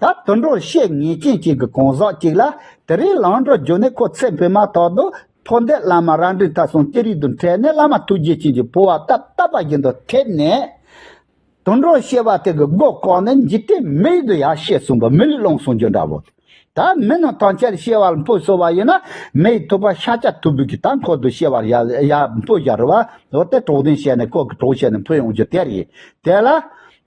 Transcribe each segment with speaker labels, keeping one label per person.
Speaker 1: ད་དུད་འགྲོ་བཤེས་གཉེན་ཅན་གཅིག་གི་གང་ཟག་ཅིག་ལ་དེ་རིང་ལང་གྲོ་རྒྱུ་ནས་ཁོ་ཚེ་འཕོས་མ་ཐག་ཏུ་འཕོ་འདས་བླ་མ་རང་འགྲིག་ཐ་སོང་ཅི་རིགས་དུ་འཕྲད་ནས་བླ་མ་ཐུགས་རྗེ་ཅན་གྱི་འཕོ་བ་རྟབ་རྟབ་པ་བཞིན་དུ་ཐེབས་ནས། དུད་འགྲོ་བཤེས་པ་དེ་གི་སྒོ་བཀག་ནས་འཇིག་རྟེན་མི་ཡི་དུ་ཡ་ཤེས་གསུངས་པ་མི་ལུས་བླངས་གསུངས་རྒྱུ་འདྲ་བོ། ད་མི་རྣམས་ཐང་ཆད་བཤེས་བར་འཕོ་གསོལ་བ་ཡིན་ན་མི་ཡི་ཐུབ་པ་ཤ་ཆ་ཐུབ་བུ་གིས་ད་འཁོར་དུ་བཤེས་བར་ཡར་འཕོ་བཞག་རུ་བ་འོ་དེ་གྲོགས་དན་བཤད་ནས་ཁོ་གི་གྲོགས་བྱས་ནས་འཕོ་ཡོང་རྒྱུ་དེ་རེད་དེ་ལ།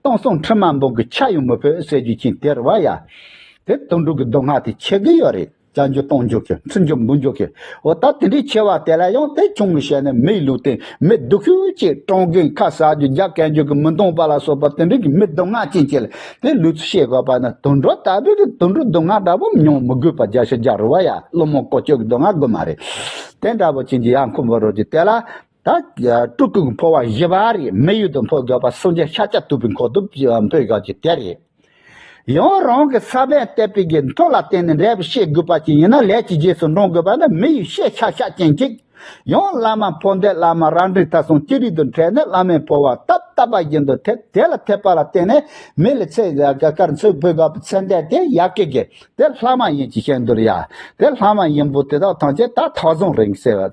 Speaker 1: སྟོང་སོང་ཁྲི་མ་འབུངས་ཀྱི་ཆ་ཡང་མི་ཕོད་ཟེར་རྒྱུ་མཁྱེན་དེར་བ་ཡ། དེ་དོན་གྲུབ་ཀྱི་མདོ་སྔགས་དེ་འཆད་གི་ཡོད་རེད་བྱ་འཇུག་གཏོང་འཇུག་གི་ཚུལ་འཇུག་འབུལ་འཇུག་གི་འོ་ད་དེ་འདྲའི་ཆེ་བ་དེ་ལ་ཡང་དེ་ཆུང་ངུ་བྱས་ནས་མིའི་ལུས་སྟེང་མི་སྡུག་ཤོས་ཀྱི་སྤྲང་རྒན་ཁ་གསག་རྒྱུ་རྒྱ་བསྐལ་འཇུག་གི་མི་འདང་པ་ལ་སོགས་པ་དེ་འདྲའི་གི་མི་མདོ་སྔགས་ཅན་གྱི་ལ་དེ་ལུས་ཚུལ་ཤེས་དགོས་པ་ནི་དུད་འགྲོ་ལྟ་བུའི་གི་དུད་འགྲོའི་མདོ་སྔགས་འདྲ་པོ་མྱོང་མི་དགོས་པ་རྒྱ་ཤོད་རྒྱ་རུ་བ་ཡ་སློང་མོ་བཀོལ་སྤྱོད་གི་མདོ་སྔགས་དགོས་མ་རེད་དེ་འདྲ་པོ་བྱིན་གྱི་ཡ་མཁོ་བོ་རོལ་རྒྱུ་དེ་ལ་སྤྲུལ་སྐུ་འཕོ་བ་བཞི་པ་རེད་མི་ཡུལ་དུ་འཕོ་དགོས་པ་སུམ་བརྒྱ་ཤ་སྐྱ་དུད་པའི་འཁོར་དུ་འཕོས་དགོས་ཀྱི་དེ་རེད། ཡང་རང་གི་ས་པན་གཏད་པའི་དགེ་མཐོ་ལ་བརྟེན་ནས་འབྲས་བུ་ཤེས་དགོས་པ་ཅིག་ཡིན་ན་ལས་ཀྱི་རྗེས་སུ་འབྲང་དགོས་པ་ནི་མི་ཡུལ་ཤེས་བྱ་ཤ་སྐྱེན་གཅིག། ཡང་བླ་མ་འཕོ་འདས་བླ་མ་རང་འགྲིག་ཐབས་སོང་ཅི་རིགས་དུ་འཕྲད་ནས་བླ་མའི་འཕོ་བ་རྟབ་རྟབ་པ་བཞིན་དུ་ཐེབས་དེ་ལ་ཐེབས་པ་ལ་བརྟེན་ནས་མི་ལ་ཚེ་དཀར་མཚོའི་བུ་དགའ་བོ་ཚེ་འདས་དེ་ཡག་གི་གི་དེ་ལྷ་མ་ཡིན་གྱི་བཤད་འདུར་ཡ་དེ་ལྷ་མ་ཡིན་པོ་དེ་དག་ཐམས་ཅད་ད་ཐག་བཟང་རེད་ཟེར་བ་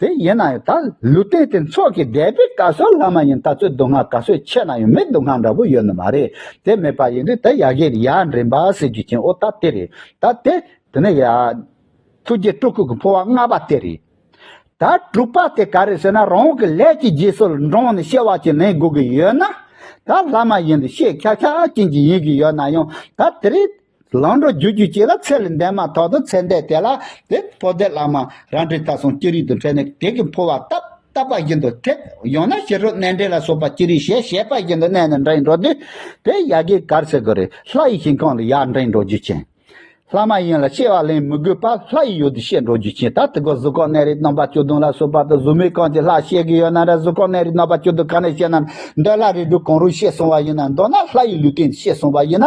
Speaker 1: དེ་ཡིན་ན་ཡང་ད་ལུས་རྟེན་དེ་མཚོག་གི་སྡེ་པའི་བཀའ་སྲོལ་ལྷག་མ་ཡིན་ད་ཚོད་སྡུག་བསྔལ་ག་ཚོད་ཆད་ན་ཡང་མི་སྡུག་བསྔལ་འདྲ་བོ་ཡོད་ནི་མ་རེད་དེ་མེད་པ་ཡིན་དུས་ད་ཡག་གི་རེད་ཡ་འདྲེན་པ་ཟེར་རྒྱུ་ཆེན་འོ་ད་དེ་རེད་ད་དེ། དེ་ནས་ཡ། ཐུགས་རྗེ་སྤྲུལ་སྐུ་གི་འཕོ་བ་ལྔ་པ་དེ་རེད། ད་དྲུག་པ་དེ་ག་རེད་ཟེར་ན་རང་གི་ལས་ཀྱི་རྗེས་སུ་འབྲངས་ནས་བཤད་བ་ཅིག་ལེན་དགོས་ཀྱི་ཡོད་ན། ད་ལྷག་མ་ཡིན་དུས་བཤད་ཁྱག་ཁྱག་ཅན་གྱི་ཡིན་གྱི་ཡོད་ན་ཡང་ད་དེ་རེད། ལང་གྲོ་རྒྱུད་རྒྱུད་བཅས་ལ་ཚད་ལས་འདས་མ་ཐག་ཏུ་ཚད་འདས་དེ་ལ་དེ་འཕོ་འདས་བླ་མ་རང་འདྲའི་ལྟ་སྲུང་ཅི་རིགས་དང་བྲལ་ནས་དེ་གིས་འཕོ་བ་རྟག་རྟག་པ་བཞིན་དུ་ཐེབ་ཡང་ན་ཞི་ཁྲོ་གནས་འདྲེན་ལ་སོགས་པ་ཅི་རིགས་ཞལ་ཞལ་པ་བཞིན་དུ་གནས་ནས་འདྲེན་འགྲོ་དུས་དེ་ཡག་གི་གར་སེ་གོ་རེ་ལྷ་ཡི་ཞིང་ཁམས་ལ་ཡག་འདྲེན་འགྲོ་རྒྱུ་བྱིན། ལྷ་མ་ཡིན་ལ་ཤེས་བ་ལེན་མི་དགོས་པར་ལྷ་ཡི་ཡུལ་དུ་ཤེས་འགྲོ་རྒྱུ་བྱིན་ད་དེ་གོ་གཟུགས་ཁོག་གནས་རིགས་སྟོང་པ་བཅུ་བདུན་ལ་སོགས་པ་དང་གཟུགས་མེད་ཁམས་ཀྱི་ལྷ་ཤེས་གི་ཡོད་ན་ར་གཟུགས་ཁོག་གནས་རིགས་སྟོང་པ་བཅུ་བདུན་ག་ནས་ཤེས་ན་འདོད་ལྷ་རིགས་དྲུག་གང་རུང་ཤེས་སོང་བ་ཡིན་ན་མདོར་ན་ལྷ་ཡི་ལུས་རྟེན་ཤེས་སོང་བ་ཡིན་ན་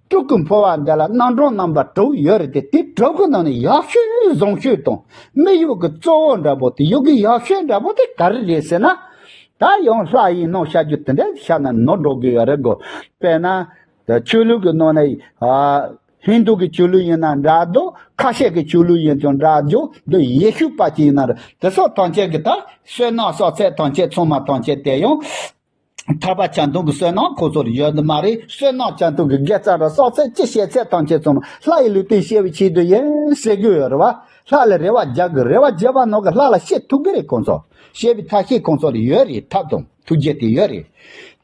Speaker 1: དཀྲུག་གི་འཕོ་བ་འདི་ལ་སྣ་འདྲོག་རྣམ་པ་དྲུག་ཡོད་རེད་དེ་དེ་དྲུག་གི་ནང་ནས་ཡག་ཤོས་ནི་བཟང་ཤོས་དང་མི་གཡོག་གི་གཙོ་བོ་འདྲ་པོ་དེ་གཡོག་གི་ཡག་ཤོས་འདྲ་པོ་དེ་ག་རེ་རེད་ཟེར་ན། ད་ཡང་ལྷ་ཡིན་ནོ་བྱ་རྒྱུ་དེ་འདྲ་ཞིག་བྱ་ན་ནོར་འགྲོ་གི་ཡོད་རེད་དགོས་པས་ན། ཆོས་ལུགས་ཀྱི་ནང་ནས་ཧིན་དུ་གི་ཆོས་ལུགས་ཡིན་ན་འདྲ་དུ་ཁ་ཤས་ཀྱི་ཆོས་ལུགས་ཡིན་ཀྱང་འདྲ་རྒྱུ་འདི་ཡེ་ཤུ་པ་ཅིག་ཡིན་ན་རེད་དེ་སོགས་ཐམས་ཅད་ཀྱི་ད་བསོད་ནམས་སོགས་ཚད་ཐམས་ཅད་ཚང་མ་ཐམས་ཅད་དེ་ཡང། ཐར་པ་བྱ་འདུང་གི་བསོད་ནམས་ཁོ་ཚོར་ཡོད་ནི་མ་རེད། བསོད་ནམས་བྱ་འདུང་གི་སྒལ་རྩ་རུ་སྲོག་ཚད་ཅི་བཤད་ཚད་དང་ཁྱེད་ཚོའམ་ལྷ་ཡི་ལུས་སྟེང་བཤད་བའི་ཆེད་དུ་ཡིན་ཟེར་གྱི་ཡོད་རེད་བ། ལྷ་ལ་རེ་བ་རྒྱག་གི་རེ་བ་རྒྱག་པ་ནང་གི་ལྷ་ལ་བཤད་ཐུབ་གི་རེད་ཁོང་ཚོ། བཤད་པའི་ཐབས་ཤེས་ཁོང་ཚོར་ཡོད་རེད་ཐབས་དང་ཐུགས་རྗེ་དེ་ཡོད་རེད།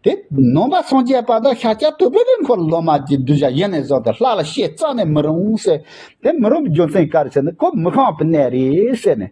Speaker 1: དེ་ནོམ་པ་སངས་རྒྱས་པ་དང་ཤཱཀྱ་ཐུབ་པོ་དེ་འཁོར་ལོ་མ་ཀྱི་གདུལ་བྱ་ཡེ་ནས་བཟུང་དེ་ལྷ་ལ་བཤད་རྩ་ནས་མི་རུང་ཟེར། དེ་མི་རུང་བའི་རྒྱུ་མཚན་ག་རེ་ཟེར་ན་ཁོ་མི་ཤངས་པའི་གནས་རེད་ཟེར་ནས།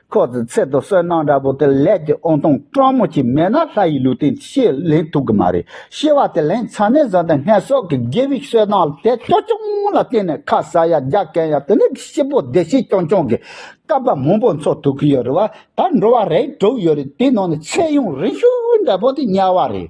Speaker 1: ཁོ་ཚོའི་ཚེ་སྟོད་བསོད་ནམས་འདྲ་པོ་དེ་ལས་ཀྱི་ཨོང་ཐང་སྤྲང་མོ་ཅིག་མེད་ན་ལྷ་ཡི་ལུས་དེ་ཤེས་ལེན་ཐུབ་གི་མ་རེད་ཤེས་བ་དེ་ལེན་ཚར་ནས་བཟང་དེ་སྔས་སྲོག་གི་དགེ་བའི་བསོད་ནམས་དེ་ཅོ་ཅོང་ལ་བརྟེན་ནས་ཁ་ཟ་ཡ་རྒྱ་བཀན་ཡ་དེ་ནས་ཤི་བོ་བདེ་སྐྱིད་ཀྱོང་ཀྱོང་གི་སྐལ་པ་མང་པོ་འཚོ་ཐུབ་གི་ཡོད་རེད་བ་ད་འགྲོ་བ་རེ་དྲུག་ཡོད་རེད་དེའི་ནང་ནས་ཚེ་གཡུང་རིང་ཤོས་འདྲ་པོ་དེ་དམྱལ་བ་རེད་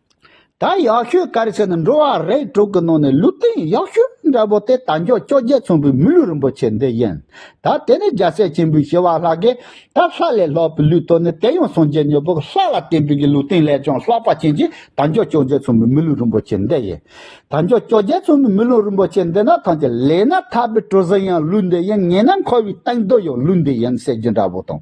Speaker 1: ད་ཡག་ཤོས་སྐར་ཆེན་འགྲོ་བ་རེ་དྲུག་གི་ནང་ནས་ལུས་སྟེང་ཡག་ཤོས་འདྲ་བོ་དེ་དལ་འབྱོར་བཅོ་བརྒྱད་ཚོང་པའི་མི་ལུས་རིན་པོ་ཆེ་འདི་ཡིན། ད་དེ་ནི་རྒྱལ་སྲས་ཆེན་པོའི་བྱེ་བ་ལྷ་དགེ། ད་ལྷ་ལས་ལྷག་པའི་ལུས་སྟོད་ནི་དེ་ཡང་སངས་རྒྱས་མྱུར་བོར་ལྷ་ལ་བརྟེན་པའི་གི་ལུས་སྟེང་ལས་ཀྱང་ལྷག་པ་ཅན་གྱི་དལ་འབྱོར་བཅོ་བརྒྱད་ཚོང་པའི་མི་ལུས་རིན་པོ་ཆེ་འདི་ཡིན། དལ་འབྱོར་བཅོ་བརྒྱད་ཚོང་པའི་མི་ལུས་རིན་པོ་ཆེ་འདི་ན་ཐང་ཆེ་ལས་ན་ཐར་པའི་གྲུ་གཟིངས་ཡང་ལུས་འདི་ཡིན་ངེས་ན་འཁོར་བའི་སྟེང་རྡོ་ཡང་ལུས་འདི་ཡིན་ཟེར་རྒྱུ་འདྲ་བོ་དང།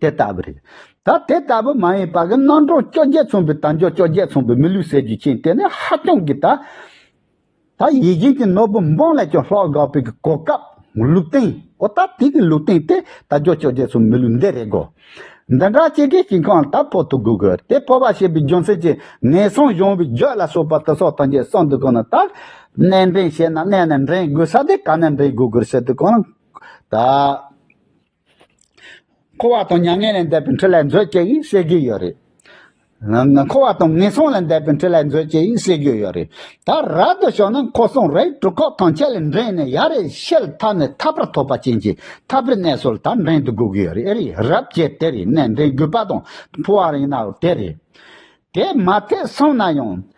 Speaker 1: དེ་ལྟ་བུ་རེད། ད་དེ་ལྟ་བུ་མ་ཡིན་པ་གི་རྣམ་གྲངས་བཅོ་བརྒྱད་མཚུངས་པའི་དལ་འབྱོར་བཅོ་བརྒྱད་མཚུངས་པའི་མི་ལུས་ཟེར་རྒྱུ་ཅན་དེ་ནི་ཧ་ཅང་གི་ད་ད་ཡིད་བཞིན་གྱི་ནོར་བུ་འབངས་ལས་ཀྱང་ལྷག་དགའ་བོའི་གི་གོ་སྐབས་ལུགས་སྟེང་འོ་ད་དེ་གི་ལུགས་སྟེང་དེ་དལ་འབྱོར་བཅོ་བརྒྱད་མཚུངས་མི་ལུས་འདི་རེད་གོ། འདི་འདྲ་སྤྱི་སྒེར་གྱི་ཁང་ད་བོ་ཐུག་དགོས་གི་དེ་བོ་བ་ཞེས་པའི་རྒྱུ་མཚན་གྱིས་ངན་སོང་གཞུང་བའི་རྒྱུད་ལ་སོགས་པ་དེ་སོགས་དོན་གྱི་སྲོག་འདི་གོ་ན་ད་གནས་འདྲེན་བྱེད་ན་གནས་ནས་འདྲེན་དགོས་ས་དེ་ག་ནས་འདྲེན་དགོས་གི་རེད་ཟེར་དུས་གང་ད། འཁོར་བ་དང་མྱ་ངན་ལས་འདས་པའི་འཕྲུལ་ལས་མཛོད་ཅེས་ཡིན་ཟེར་གྱི་ཡོད་རེད། འཁོར་བ་དང་ངན་སོང་ལས་འདས་པའི་འཕྲུལ་ལས་མཛོད་ཅེས་ཡིན་ཟེར་གྱི་ཡོད་རེད། ད་ར་དུ་ཞོག་ན་འཁོར་སོང་རེ་གྲུ་ཁོག་ཐང་ཆད་ལས་འགྲེང་ནས་ཡར་རེ་ཤེལ་ཐག་ནས་ཐག་པར་ཐོགས་པ་ཅན་གྱི་ཐག་པའི་གནས་སོ་ལ་ད་འགྲེང་དུ་དགོས་གི་ཡོད་རེད་ཨེ་རེད་རབ་ཅེས་དེ་རེད་ནས་འགྲེང་དགོས་པ་དང་ཕུ་བ་རེད་ན་དེ་རེད། དེ་མ་ཐེག་སོང་ན་ཡང།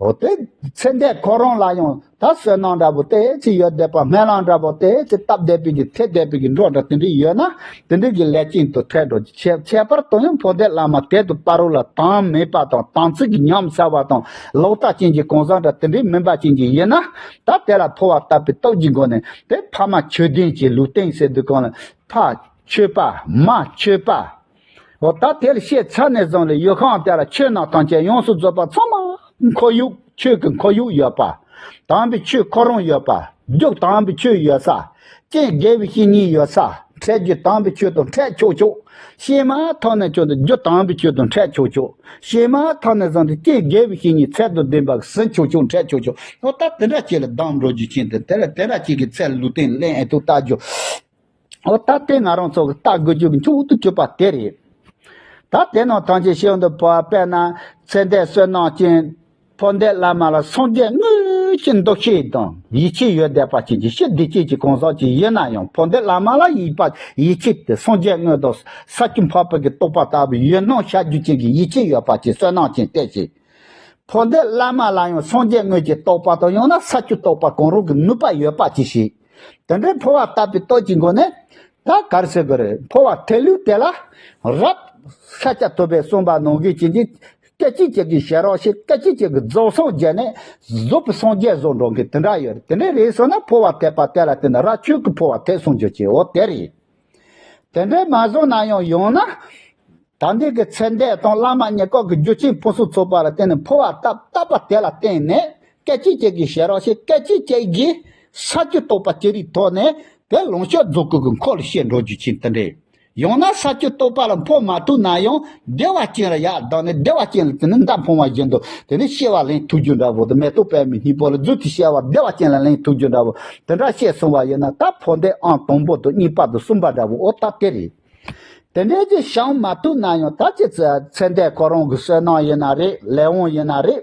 Speaker 1: འོ་དེ་ཚེ་འདས་ཁོ་རང་ལ་ཡང་ད་བསོད་ནམས་འདྲ་བོ་དེ་ཅི་ཡོད་བསྡད་པ་སྨན་བླ་འདྲ་བོ་དེ་ཅི་སྟབས་བསྡད་པའི་གི་ཚེ་བསྡད་པའི་གི་འགྲོ་འདྲ་དེ་འདྲའི་ཡོད་ན་དེ་འདྲའི་གི་ལས་ཅན་དུ་ཐལ་འགྲོ་གི་ཁྱད་པར་དུ་ཡང་འཕོ་འདེབས་བླ་མ་དད་དུ་དཔའ་རོ་ལ་དྭངས་མེད་པ་དང་དྭངས་ཚིག་གི་ཉམས་བསལ་བ་དང་ལོག་ལྟ་ཅན་གྱི་གང་ཟག་འདྲ་དེ་འདྲའི་མིན་པ་ཅན་གྱི་ཡོད་ན་ད་དེ་ལ་འཕོ་བ་བཏབ་པའི་སྟོབས་ཀྱི་སྒོ་ནས་དེ་ཕ་མ་ཆོས་ལྡན་གྱི་ལུས་རྟེན་ཟེར་དུས་གང་ལ་ཕ་ཆོས་པདྨ་ཆོས་པདྨ། འོ་ད་དེར་ཤེས་ཚར་ནས་བཟུང་ལས་ཡུལ་ཁང་དེ་ལ་ཆོས་ནང་ཐམས་ཅད་ཡོངས་སུ་རྫོགས་པ་ཚང་མ་འཁོར་ཡུག་ཆོས་ཀྱི་འཁོར་ཡུག་ཡོད་པ། དྭངས་པའི་ཆོས་འཁོར་རོང་ཡོད་པ། རྒྱུགས་དྭངས་པའི་ཆོས་ཡོད་ས། རྐྱེན་དགེ་བའི་བཤེས་གཉེན་ཡོད་ས། འཕྲད་རྒྱུ་དྭངས་པའི་ཆོས་དང་འཕྲད་ཆོག་ཆོག། ཤེས་མ་ཐག་ནས་བྱུང་སྟེ་རྒྱུ་དྭངས་པའི་ཆོས་དང་འཕྲད་ཆོག་ཆོག། ཤེས་མ་ཐག་ནས་བཟུང་སྟེ་རྐྱེན་དགེ་བའི་བཤེས་གཉེན་ཚད་དང་ལྡན་པ་ཟིན་ཆོག་ཆོག་འཕྲད་ཆོག་ཆོག། འོ་ད་དེ་འདྲ་ཅིག་ལ་སྡང་འགྲོ་རྒྱུ་ཅན་དེ་དེ་ལ་དེ་འདྲ་ཅིག་གི་ཚད་ལུས་རྟེན་ལས་ཨེ་ཐུག་བལྟ་རྒྱུ། འོ་ད་ལྟའི་ང་རང་ཚོ་བལྟ་དགོས་རྒྱུ་མཐོང་དུ་གྱུར་པ་དེ་རེད། ད་དེ་རྣམས་ཐམས་ཅད་ཤེས་ཡོན་དུ་བབས་པས་ན་ཚེ་འདས་བསོད་ནམས་ཅན། འཕོ་འདས་བླ་མ་ལ་སངས་རྒྱས་དངོས་ཀྱི་འདུ་ཤེས་དང་ཡིད་ཆེས་ཡོད་བསྡད་པ་ཅན་གྱི་ཞི་བདེ་ཅན་གྱི་གང་ཟག་ཅིག་ཡིན་ན་ཡང་འཕོ་འདས་བླ་མ་ལ་ཡིད་པ་ཡིད་ཆེས་ཏེ་སངས་རྒྱས་དངོས་དང་ས་བཅུ་འཕགས་བོད་ཀྱི་རྟོགས་པ་ལྟ་བུའི་ཡུལ་སྣང་བྱ་རྒྱུ་ཅན་གྱི་ཡིད་ཆེས་ཡོད་པ་ཅན་བསོད་ནམས་ཅན་དེ་བཞིན། འཕོ་འདས་བླ་མ་ལ་ཡང་སངས་རྒྱས་དངོས་ཀྱི་རྟོགས་པ་དང་ཡང་ན་ས་བཅུ་རྟོགས་པ་གང་རུང་གི་ནུས་པ་ཡོད་པ་ཅིག་ཞིག། དེ་འདྲའི་འཕོ་བ་བཏབ་པའི་སྟོད་ཀྱི་མགོ་ནས། ད་གར་སེ་གོ་རེད་འཕོ་བ་ཐལ་ལུས་དེ་ལ། རབ། ས་སྐྱ་ཐུབ་པས་གསུངས་པ་ནོར་གྱི་བྱིན་གྱིས། སྐད་ཅིག་གཅིག་གིས་བྱེད་རོགས་ཞེས་སྐད་ཅིག་གཅིག་གིས་རྫོགས་སངས་རྒྱས་ནས། རྫོགས་པའི་སངས་རྒྱས་བཟོ་འགྲོ་མཁན་དེ་འདྲ་ཡོད་རེད་དེ་འདྲའི་རེད་བཟོ་ན་འཕོ་བ་ཐལ་པ་དེ་ལ་བསྟེན་ན་ར་ཆོས་ཀྱི་འཕོ་བ་ཐལ་གསུངས་རྒྱུ་ཅི་འོ་དེ་རེད། དེ་འདྲས་མ་བཟུང་ན་ཡང་ཡང་ན། ད་འདི་གི་ཚེ་འདས་དང་བླ་མ་ཉེ་འཁོར་གྱི་རྒྱུ་ཆེན་པོ་སོགས་ཚོགས་པ་ལ་བརྟེན་ནས་འཕོ་བ་ལྟ་བ་དེ་ལ་བརྟེན་ནས་སྐད་ཅིག་གཅིག་གིས་ཞེས་རང་བཞིན་སྐད་ཅིག་གཅིག་གིས་ས་བཅུ་རྟོགས་པ་ཅི་རིགས་ཐོག་ནས་དེ་ལོངས་སྤྱོད་རྫོགས་སྐུ་གི་འཁོར་ལོ་བཤད་འགྲོ་རྒྱུ་ཆེན་དེ་འདྲས། ཡང་ན་ས་བཅུ་རྟོགས་པ་ལ་འཕོ་མ་ཐུབ་ན་ཡང། བདེ་བ་ཅན་ལ་ཡང་བདག་ནི་བདེ་བ་ཅན་ལ་དེ་ནི་མདའ་འཕོངས་བ་བཞིན་དུ་དེ་ནི་ཤེས་པ་ལྷའི་ཐུགས་རྒྱུད་འདྲ་བོ་དང་མེ་ཏོག་པད་མའི་སྙིང་པོ་ལ་རྫུས་ཏེ་ཤེས་པ་བདེ་བ་ཅན་ལ་ལྷའི་ཐུགས་རྒྱུད་འདྲ་བོ་དེ་འདྲ་ཤེས་གསུངས་པ་ཡིན་ན་ད་འཕོ་འདེ་ཨང་དང་པོ་དང་གཉིས་པ་དང་གསུམ་པ་འདྲ་བོའོ་ད་དེ་རེད། དེ་འདྲའི་རྗེས་བྱང་མ་ཐུག་ན་ཡང་ད་ཅི་ཚེ་འདས་ཁོ་རང་གི་བསོད་ནམས་ཡིན་ན་རེད་ལས་དབང་ཡིན་ན་རེད།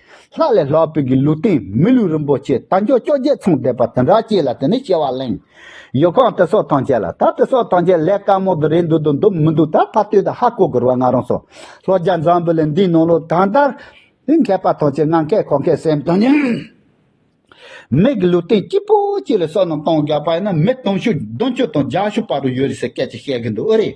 Speaker 1: ལྷག་ལས་ལྷག་པའི་གི་ལུགས་བསྟན་མི་ལུས་རིན་པོ་ཆེ་རྟ་མཆོག་བཅོ་བརྒྱད་མཚུངས་བསྡེབས་པ་དེ་འདྲ་བསྐྱེད་ལ་དེ་ནས་བསྐྱེད་བ་གླེང། ཡོ་གའང་དེ་སོགས་དང་བྱས་ལ་ད་དེ་སོགས་དང་བྱས་ལས་དཀའ་མོ་དུ་རེད་འདུག་དུ་འདུག་མི་འདུག་ད་ཕར་སྟོན་དུ་ཧ་གོ་དགོས་ར་ང་རང་སོ་ལྷོ་རྒྱ་མཚམས་བུ་ལས་འདིའི་ནང་ལོ་ད་ལྟར་དེ་མཁས་པ་དང་བྱས་ང་མཁས་ཁོ་མཁས་སེམས་དང་ཉམས་མེད་གི་ལུགས་བསྟན་སྐྱིད་པོ་སྐྱིད་ལ་སོགས་རྣམས་གཏོང་དགོས་པ་ཡིན་ན་མི་གཏོང་ཤུགས་བདུན་ཅུ་དང་བརྒྱ་ཤུགས་པ་རུ་ཡོད་རེད་ཟེར་སྐད་ཅིག་བཤད་གི་འདུག་ཨོ་རེད།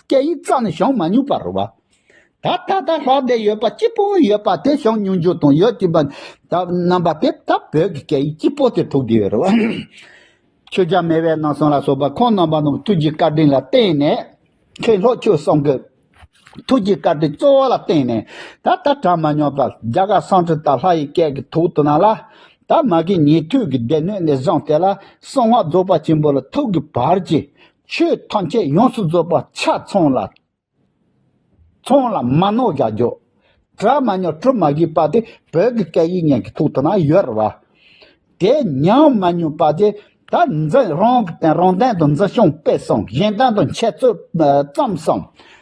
Speaker 1: སྐད་ཡིག་རྩ་ནས་བྱུང་མ་མྱོང་པ་རུ་བ། ད་ལྟ་ད་ལྷག་འདས་ཡོད་པ་སྐྱིད་པོ་ཡོད་པ་དེ་བྱུང་མྱོང་རྒྱུ་དང་ཡོད་ཀྱི་བར་རྣམ་པ་དེ་ད་བོད་ཀྱི་སྐད་ཡིག་སྐྱིད་པོ་དེ་ཐུག་བསྡད་ཡོད་རུ་བ། ཆོས་རྒྱ་མེ་བའི་ནང་སོང་ལ་སོགས་པ་ཁོང་རྣམ་པ་རྣམས་ཐུགས་ཀྱི་བཀའ་དྲིན་ལ་བརྟེན་ནས་ཁེ་ལྷོ་ཆོས་གསུམ་གྱི་ཐུགས་ཀྱི་བཀའ་དྲིན་གཙོ་བོ་ལ་བརྟེན་ནས་ད་ལྟ་དྲངས་མ་མྱོང་པ་རྒྱ་གར་སང་ཁྲི་ད་ལྷ་ཡི་སྐད་ཀྱི་ཐུགས་དུ་སྣང་ལ། ད་མ་གིའི་ཉེ་དུས་ཀྱི་སྡེ་སྣོད་ནས་བཟུང་དེ་ལ་གསང་སྔགས་རྫོགས་པ་ཆེན་པོ་ལ་ཐུག་གི་བར་གྱི་ཆོས་ཐམས་ཅད་ཡོངས་སུ་རྫོགས་པ་ཆ་ཚང་ལ། ཚང་ལ་མ་ནོར་བཞག་འཇོག། གྲ་མ་ཉོག་བཀྲུ་མ་བགྱིས་པ་དེ་བོད་ཀྱི་སྐད་ཡིག་ཉན་གྱི་ཐུགས་དང་ན་ཡོད་ར། དེ་ཉམས་མ་ཉོན་པ་དེ་ད་འཛིན་རང་གི་དན་རང་དན་དུ་འཛིན་ཤིང་སྤེལ་སོང་གཞན་དན་དུ་འཆད་རྩོད་བརྩམས་སོང།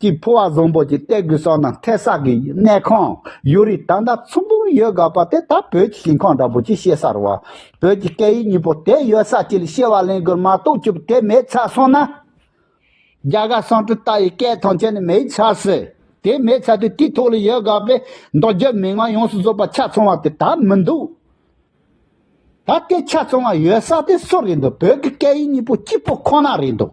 Speaker 1: ཀྱི་ཕོ་བ་བཟང་པོ་ཅིག་སྟེར་དགོས་སོགས་ནང་མཐའི་ས་དགེ་བའི་གནས་ཁང་ཡོད་རིགས་ད་ལྟ་ཚོང་དཔོན་ཡོད་དགའ་བ་དེ་ད་བོད་ཀྱི་ཞིང་ཁང་འདྲ་པོ་ཅིག་བཤད་སར་བ་བོད་ཀྱི་སྐད་ཡིག་གཉིས་པོ་དེ་ཡོད་ས་ཅིག་ལ་བཤད་བ་ལེན་དགོས་མ་གཏོགས་སྐྱུར་པོ་དེ་མེད་ཚར་སོང་ན། རྒྱ་གར་གསང་སྤྲུལ་ལྟ་ཡི་སྐད་ཐང་ཅན་ནི་མེད་ཚར་སྲིད་དེ་མེད་ཚར་དུས་དེའི་ཐོག་ལ་ཡོད་དགའ་བའི་མདོ་རྒྱུད་མི་དམངས་ཡོངས་སུ་རྫོགས་པ་ཆ་ཚང་བ་དེ་ད་མི་འདུག་ད་ལྟའི་ཆ་ཚང་བ་ཡོད་ས་དེ་སུ་རེད་འདུག་བོད་ཀྱི་སྐད་ཡིག་གཉིས་པོ་གཅིག་པོ་ཁོ་ན་རེད་འདུག།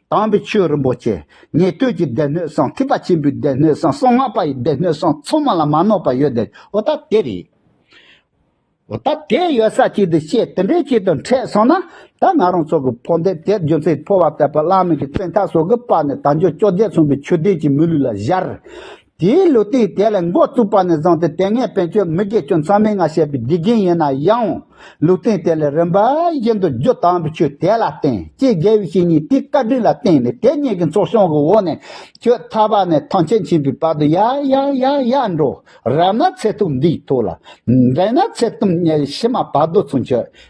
Speaker 1: དྭངས་པའི་ཆོས་རིན་པོ་ཆེ། ཉན་ཐོས་ཀྱི་སྡེ་སྣོད་གསང་ཐིགས་པ་ཆེན་པོའི་སྡེ་སྣོད་གསང་གསང་སྔགས་པ་ཡི་སྡེ་སྣོད་གསང་མཚོ་མ་ལ་མ་ནོར་བ་ཡོད་དེ་འོ་ད་དེ་རེད། འོ་ད་དེ་ཡོད་ས་ཅིག་དུ་བཤད་དེ་འདྲའི་ཆེད་དུ་འཕྲད་སོང་ན་ད་ང་རང་ཚོ་གི་འཕོ་འདེབས་དེ་རྒྱུ་མཚན་འཕོ་བ་ལྟ་བུ་བླ་མེད་ཀྱི་བཙན་ཐབས་སོགས་ཀྱི་པར་ནས་དང་ཆོས་ཅོག་བརྒྱད་མཚུངས་པའི་ཆོས་ལྡན་གྱི་མི་ལུས་ལ་བཞར་དེའི་ལུས་སྟེང་དེ་ལས་མགོ་བཙུགས་པ་ནས་བཟུང་སྟེ་དེ་སྔའི་བན་ཆོས་མི་དགེ་སྐྱོན་ཚང་མའི་སྔ་བཤད་པའི་དགེ་རྒན་ཡིན་ན་ཡང། ལུས་སྟེང་དེ་ལས་རིམ་པ་བཞིན་དུ་རྒྱུ་དྭངས་པའི་ཆོས་དེ་ལ་བརྟེན་ཅེས་རྒྱལ་བའི་བཤེས་གཉེན་དེའི་བཀའ་དྲིན་ལ་བརྟེན་ནས་དེ་གཉིས་ཀྱི་མཚོ་བྱང་གི་འོག་ནས་ཁྱོད་ཐར་པ་ནས་ཐང་ཆེན་ཕྱིན་པའི་བར་དུ་ཡ་ཡ་ཡ་ཡ་འགྲོ། རབ་ན་ཚེ་ཐུབ་འདིའི་ཐུགས་ལ། འགྲན་ན་ཚེ་བརྟུན་གཉའ་ཡི་ཕྱི་མ་བར་དོ་ཚུན་ཆོད།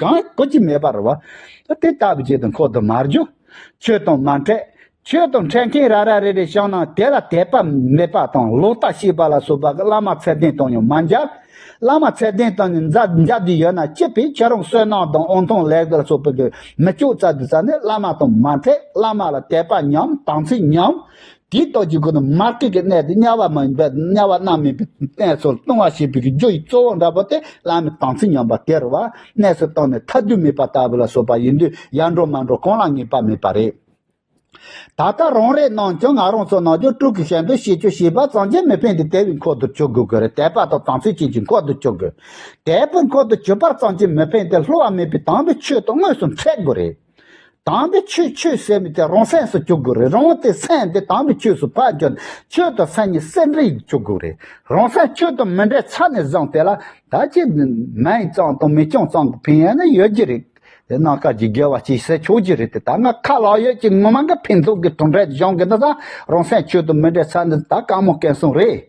Speaker 1: གང་བཀོད་ཀྱི་མེད་པར་བ། དེ་ལྟ་བུའི་ཆེད་དུ་འཁོར་དུ་མར་རྒྱུ། ཆོས་དང་མ་འཕྲད། ཆོས་དང་འཕྲད་མཁན་ར་ར་རེ་རེ་བྱང་ན་དེ་ལ་དད་པ་མེད་པ་དང་ལོག་ལྟ་ཤེས་པ་ལ་སོགས་པ་གི་བླ་མ་ཚད་ལྡན་དང་ཡང་མ་འཇལ། བླ་མ་ཚད་ལྡན་དང་ནི་འཇལ་རྒྱུ་ཡོད་ན་སྤྱི་པའི་ཁྱེད་རང་བསོད་ནམས་དང་དབང་ཐང་ལེགས་པ་ལ་སོགས་པ་གི་མི་ལྕོགས་ཙག་གི་ས་ནས་བླ་མ་དང་མ་འཕྲད་བླ་མ་ལ་དད་པ་ཉམས་དམ་ཚིག་ཉམས། དེའི་རྟོགས་ཀྱི་སྒོ་ནས་མ་སྐྱེས་ཀྱི་གནས་དེ་དམྱལ་བ་མ་ཡིན་པས་དམྱལ་བ་རྣམ་སྨིན་པའི་གནས་སུ་ལྟུང་བ་བྱེད་པའི་རྒྱུ་ཡི་གཙོ་བོ་འདྲ་བོ་དེ་བླ་མའི་དམ་ཚིག་ཉམས་པ་སྟེར་བར་གནས་སུ་བཏང་ནས་ཐ་དུས་མེད་པ་ལྟ་བུ་ལ་སོགས་པ་ཡིན་དུས་ཡར་འགྲོ་མར་འགྲོ་གང་ལ་ངེས་པ་མེད་པ་རེད། ད་ལྟ་རང་རེའི་ནང་ཀྱང་ང་རང་ཚོ་ནང་ཆོས་དྲུག་གི་ཞལ་འདོན་བྱེད་ཆོས་བྱེད་པར་གཙང་རྒྱལ་མི་ཕན་ཏེ་དད་པའི་འཁོར་དུ་བཅུག་དགོས་ཀྱི་རེད་དད་པ་དང་དམ་ཚིག་བྱེད་ཀྱི་འཁོར་དུ་བཅུག་དགོས། དད་པའི་འཁོར་དུ་བཅུག་པར་གཙང་རྒྱལ་མི་ཕན་ཏེ་སླུ་བ་མེད་པའི་དང་པོས་ཆོས་དང་དངོས་སུ་འཚེ་དགོས་རེད། དང་པོའི་ཆོས་ཆོས་ཟད་མི་ཏེ་རང་སེམས་སུ་བཅུག་དགོས་རེད་རང་དེ་སེམས་དེ་དང་པོའི་ཆོས་སུ་བག་བཅོལ་ནས་ཆོས་དང་སེམས་གཉིས་སེམས་རིག་བཅུག་དགོས་རེད་རང་སེམས་ཆོས་དང་མི་འདྲེས་ཆ་ནས་བཟང་དེ་ལ་ད་ཅི་མེད་གཙང་དང་མི་གཙང་གཙང་གི་ཕན་ཡོད་ནི་ཡོད་ཀྱི་རེད་དེ་ནང་སྐར་གྱི་རྒྱལ་བ་སྐྱེ་ས་ཆོག་གྱི་རེད་དེ་ད་ང་ཁ་ལག་ཡོད་ཀྱི་ངོ་མ་འགའ་ཕན་ཚུན་གྱི་དུང་སྒྲ་བཞང་གི་ནི་བཟང་རང་སེམས་ཆོས་དང་མི་འདྲེས་ཆ་ནས་ད་གང་མང་སྐལ་བཟང་རེད།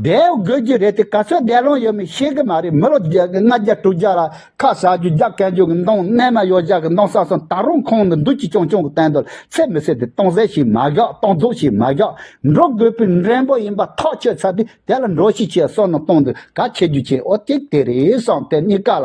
Speaker 1: བསྡད་དགོས་རྒྱུ་རེད་དེ་ག་ཚོད་བསྡད་ལོང་ཡོད་མེད་ཤེས་གི་མ་རེད་མི་ལོ་བརྒྱད་ལྔ་བརྒྱ་དྲུག་བརྒྱ་ལ་ཁ་ཟ་རྒྱུ་རྒྱ་བསྐན་རྒྱུ་གི་མདོང་རྣལ་མ་ཡོད་བཞག་གི་མདོང་ས་སོང་ད་རུང་ཁོང་ནི་འདུག་ཅི་ཅོང་ཅོང་གི་སྟན་དུ་ཚད་མི་ཟེར་དེ་སྟོང་ཟད་ཞིག་མ་བཞག་སྟོང་རྫོགས་ཞིག་མ་བཞག་འགྲོ་དགོས་པའི་འགྲན་པོ་ཡིན་པ་ཐག་ཆོད་ཚར་དུས་དེ་ལ་འགྲོ་ཤི་ཆེ་སོང་ན་སྟོང་འདུག་ག་ཁྱེད་རྒྱུ་ཆེན་ཨོ་ཏེ་དེ་རེད་བསམ་དེ་གཉིས་ཀ་ལ།